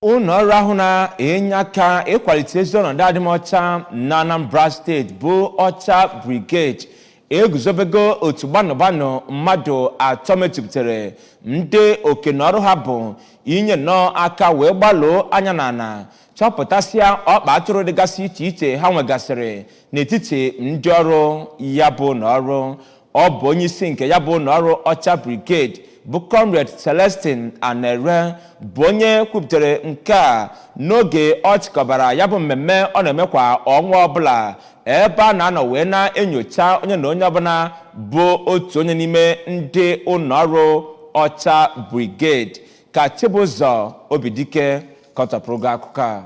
ụlọ ọrụ ahụ na-enye aka ịkwalite ezi ọnọdụ adịmọcha na anambra steeti bụ ọcha brigade eguzobego otu gbanụgbanụ mmadụ atọ mejupụtara ndị oke na ọrụ ha bụ inye nnọọ aka wee gbaluo anya n'ala chọpụtasịa ọkpa atụrụ dịgasị iche iche ha nwegasịrị n'etiti ndị ọrụ ya bụ ụlọ ọrụ Ọ bụ onye isi nke ya bụ ụlọ ọrụ Ọcha Brigade bụ Comrade Celestine Anere bụ onye kwupụtara nke a n'oge ọ chịkọbara ya bụ mmemme ọ na-eme kwa ọnwa ọbụla ebe a na-anọ wee na-enyocha onye na onye ọbụla bụ otu onye n'ime ndị ụlọ ọrụ Ọcha Brigade ka Chibụzọ Obidike kọtọpụrụ gị akụkọ a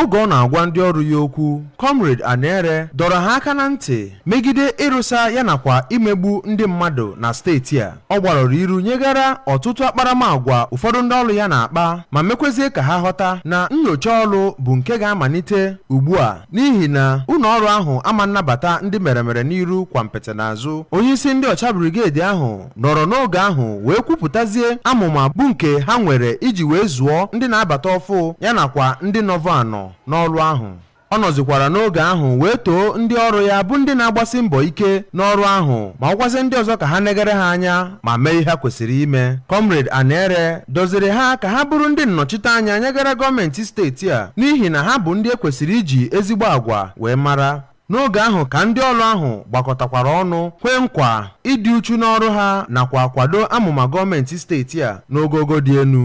Oge ọ na-agwa ndị ọrụ ya okwu, Comrade Anere dọrọ ha aka na ntị megide ịrụsa ya nakwa imegbu ndị mmadụ na steeti a. Ọ gbarọrọ iru nyegara ọtụtụ akparamagwa ụfọdụ ndị ọrụ ya na-akpa ma mekwezie ka ha ghọta na nnyocha ọrụ bụ nke ga-amalite ugbu a n'ihi na ụlọ ọrụ ahụ ama nnabata ndị meremere n'iru gwompiti n'azụ. Onyeisi ndị ọcha brigade ahụ nọrọ n'oge ahụ wee kwupụtazie amụma bụ nke ha nwere iji wee zụọ ndị na-abata ọfụ ya nakwa ndị nọvọ anọ n'ọrụ ahụ ọ nọzikwara n'oge ahụ wee too ndị ọrụ ya bụ ndị na-agbasi mbọ ike n'ọrụ ahụ ma gwazie ndị ọzọ ka ha negere ha anya ma mee ihe ha kwesịrị ime kọmrade anere doziri ha ka ha bụrụ ndị nnọchiteanya nyegara gọọmenti steeti a n'ihi na ha bụ ndị e kwesịrị iji ezigbo agwa wee mara N'oge ahụ ka ndị ọrụ ahụ gbakọtakwara ọnụ kwee nkwa ịdị uchu n'ọrụ ha nakwa kwado amụma gọọmenti steeti a n'ogogo dị elu.